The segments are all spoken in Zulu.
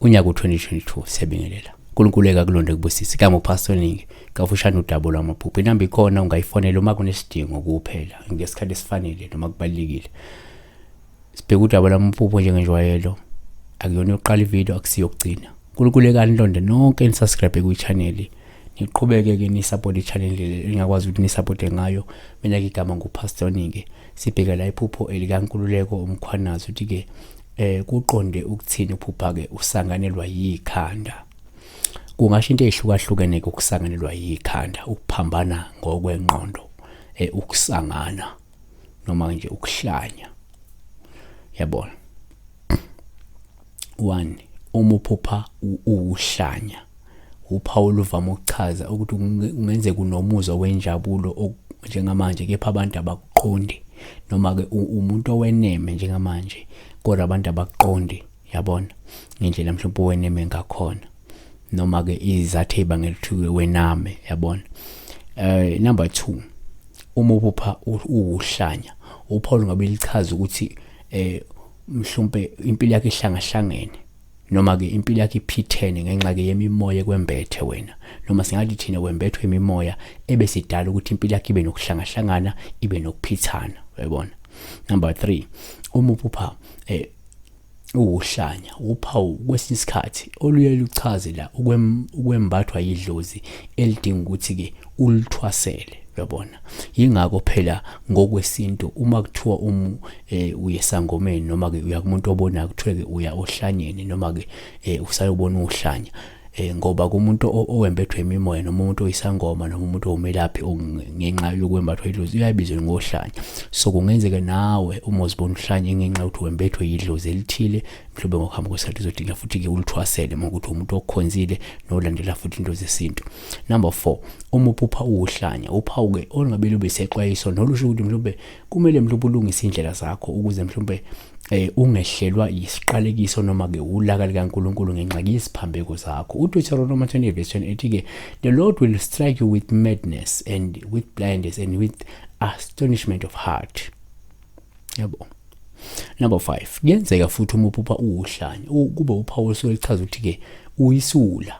unyaka u-2022 siyabingelela unkulunkulu ekakulonde kubusisi kanye ngophasoningi kafushane udabo lwamaphupho inamba ikhona ungayifonela uma kunesidingo kuphela ngesikhathi esifanele noma kubalulekile Sibheke udaba lamaphupho njengenjwayelo. Akuyona yokuqala ivideo akusiyo yokugcina. Nkulukulekani londe nonke nisubscribe kwi-channel. Niqhubeke ke nisupport i-channel le engakwazi ukuthi nisupporte ngayo. Mina ke igama nguPastor Nike. Sibheke la iphupho elikaNkululeko uMkhwanazi uthi ke eh kuqonde ukuthini uphupha ke usanganelwa yikhanda. Kungasho into ehlukahlukene ukusanganelwa yikhanda, ukuphambana ngokwenqondo, eh ukusangana. noma nje ukuhlanya yabona one uma uphupha uwuhlanya uphawu oluvama ukuchaza ukuthi kungenzeka unomuzwa wenjabulo njengamanje kepha abantu abakuqondi noma-ke umuntu oweneme njengamanje kodwa abantu abakuqondi yabona ngendlela mhlawumbe weneme ngakhona noma ke izathe ibangela ukuthi wename yabona eh number 2 uma ubupha uwuhlanya uPaul ngabe lichaza ukuthi eh mhlawumbe impilo yakhe ihlangahlangene noma ke impilo yakhe iphithene ngenxa ke yemimoya kwembethe wena noma singathi thina wembethwe imimoya ebesidala ukuthi impilo yakhe ibe nokuhlangahlangana ibe nokuphithana uyabona number 3 uma uphupha eh Uwuhlanya wuphawu kwesinye isikhathi oluye luchaze la ukwembathwa yidlozi elidinga ukuthi-ke ulithwasele uyabona yingakho phela ngokwesintu uma kuthiwa um eh, uye sangomeni noma-ke uya kumuntu obonayo kuthiwe-ke uya ohlanyeni noma-ke um eh, usayobona uhlanya eh ngoba kumuntu owembethwe imimoya noma umuntu oyisangoma noma umuntu owumelaphi ngenxa yokwembathwa idlozi uyabizwa ngohlanya so kungenzeka nawe uma uzibona uhlanye ngenxa yokuthi wembethwe idlozi elithile mhlawumbe ngokuhamba kwesikhathi uzodinga futhi-ke ulithwasele uma ukuthi umuntu okhonzile nolandela futhi into zesintu number four uma uphupha uwuhlanya uphawu-ke olungabe lube sexwayiso nolusho ukuthi mhlawumbe kumele mhlawumbe ubulungise indlela zakho ukuze mhlawumbe eh ungehlelwa yisiqalekiso noma ke ulaka likaNkuluNkulu ngenxa yeziphambeko zakho uDeuteronomy 20 verse 28 ethi ke the lord will strike you with madness and with blindness and with astonishment of heart yabo number 5 kuyenzeka futhi uma uphupha uwuhlanya kube uphawu osuke lichaza ukuthi ke uyisula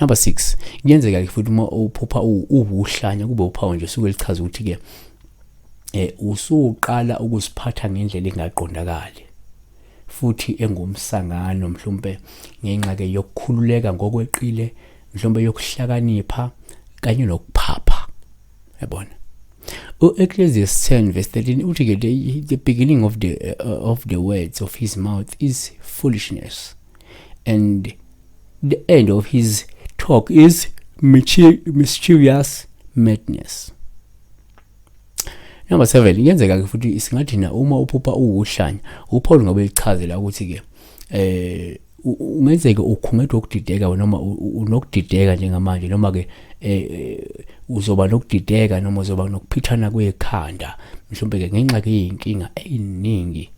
Number 6 kuyenzeka ke futhi uma uphupha uwuhlanya kube uphawu nje suke lichaza ukuthi ke eh usuqala ukuziphatha ngendlela engaqondakali futhi engumsangano mhlawumbe ngenxa ke yokukhululeka ngokweqile mhlawumbe yokuhlakanipha kanye nokuphapha yabona u-ecclesiastes 10 verse 13 uthi ke the beginning of the uh, of the words of his mouth is foolishness and the end of his talk is mischievous madness number 7 kuyenzeka ke futhi singathi na uma uphupha uwuhlanya uPaul ngobe ichazela ukuthi ke eh ungenzeke ukhungethwe ukudideka noma unokudideka njengamanje noma ke eh, eh, uzoba nokudideka noma uzoba nokuphithana kwekhanda mhlawumbe ke ngenxa ke yinkinga eyiningi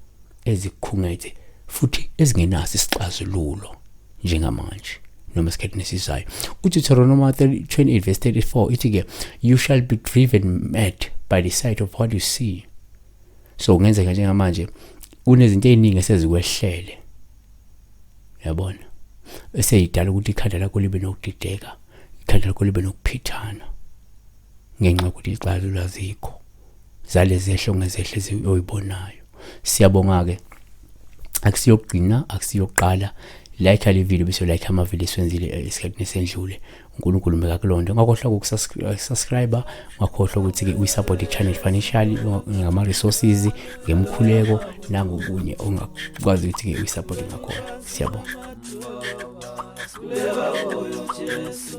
ezikhungethe futhi ezingenaso isixazululo njengamanje noma esikhathini esizayo udeuteronomy 28 verse 34 ithi-ke you shall be driven mad by the sight of what you see so kungenzeka njengamanje kunezinto ey'ningi esezikwehlele yabona eseyidala ukuthi ikhanda lakho libe nokudideka ikhanda lakho libe nokuphithana ngenxa yokuthi ixazulu azikho zalezi ehlongo ezehlezi oyibonayo siyabonga ke akusiyokugcina akusiyokuqala like le video bese like ama video siwenzile eh, isikhathi nesendlule uNkulunkulu mbeka kulonto ngakhohlwa ukusubscribe ngakhohlwa ukuthi ke uyisupport ichannel financially ngama resources ngemkhuleko nangokunye ongakwazi ukuthi ke uyisupport ngakhona siyabonga Leva o Jesu